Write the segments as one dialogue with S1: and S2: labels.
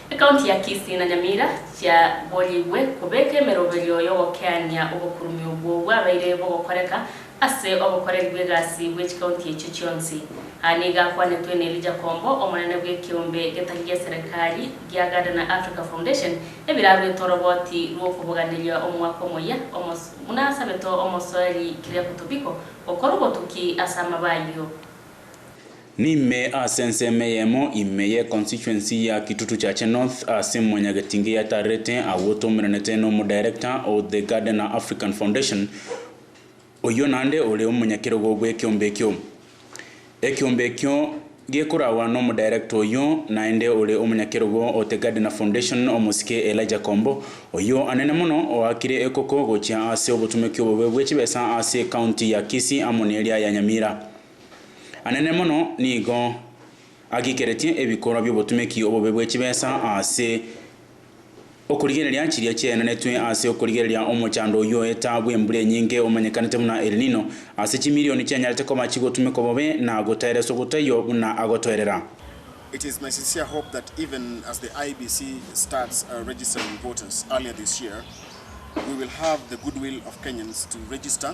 S1: Ekaunti ya Kisii na Nyamira chiaborigwe kobeka emeroberio y'ogokeania obokurume obwo bwabaire bogokoreka ase obokoreri bw'egasi bwe chikaunti echio chionsi. Aya nigo akwanetwe n'Elijah Kombo, omonene bw'ekeombe getari gia serekari gia Gardener Africa Foundation, ebiraruete oroboti rw'okoboganeria omwaka omoyia, omos. Buna asabete omosoeri Kyriaco Tobiko gokora obotuki ase amaba ayio.
S2: Nime ase ensemo eyemo ime ye constituency ya Kitutu Chache North ase Mwanyagetinge ya Tarete agwo toumeranete nomo director o The Gardener African Foundation oyio nande ore omonyakerogo bwekiombe ekio. Ekiombe ekio gekoragwa nomo director oyio naende ore omonyakerogo o The Gardener Foundation omosike Elijah Kombo oyio anene mono oakire ekoko gochia ase obotumeki obobe bwechibesa ase county ya Kisii amo neria ya Nyamira. anene mono nigo agikeretie ebikorwa bi'obotumeki obobe bwe chibesa ase okorigereria chiria chiaenanetwe ase okorigereria omochando oyio etaabu embura enyinge omanyekanete buna El Nino ase chimilioni chianyarete koba chigotumekwa bobe na gotaereswa gotaiyo buna agotoerera. It is my
S3: sincere hope that even as the IEBC starts registering voters earlier this year, we will have the goodwill of Kenyans to register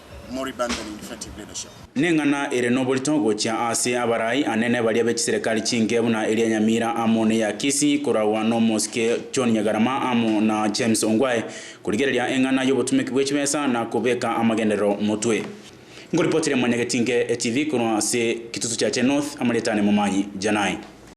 S3: Mori Bandon in Effective Leadership. Neng'ana ere
S2: noborito gochia ase abarai anene baria be chiserekari chinke buna eria Nyamira amo neya Kisii koragwa nomosike John Nyagarama amo na James Ongwae korigereria eng'ana yobotumeku bwechibesa na kobeka amagenderero motwe. Ngoripotiria Mwanyagetinke TV korwa ase Kitutu Chache North, amarieta ane Momanyi Janai.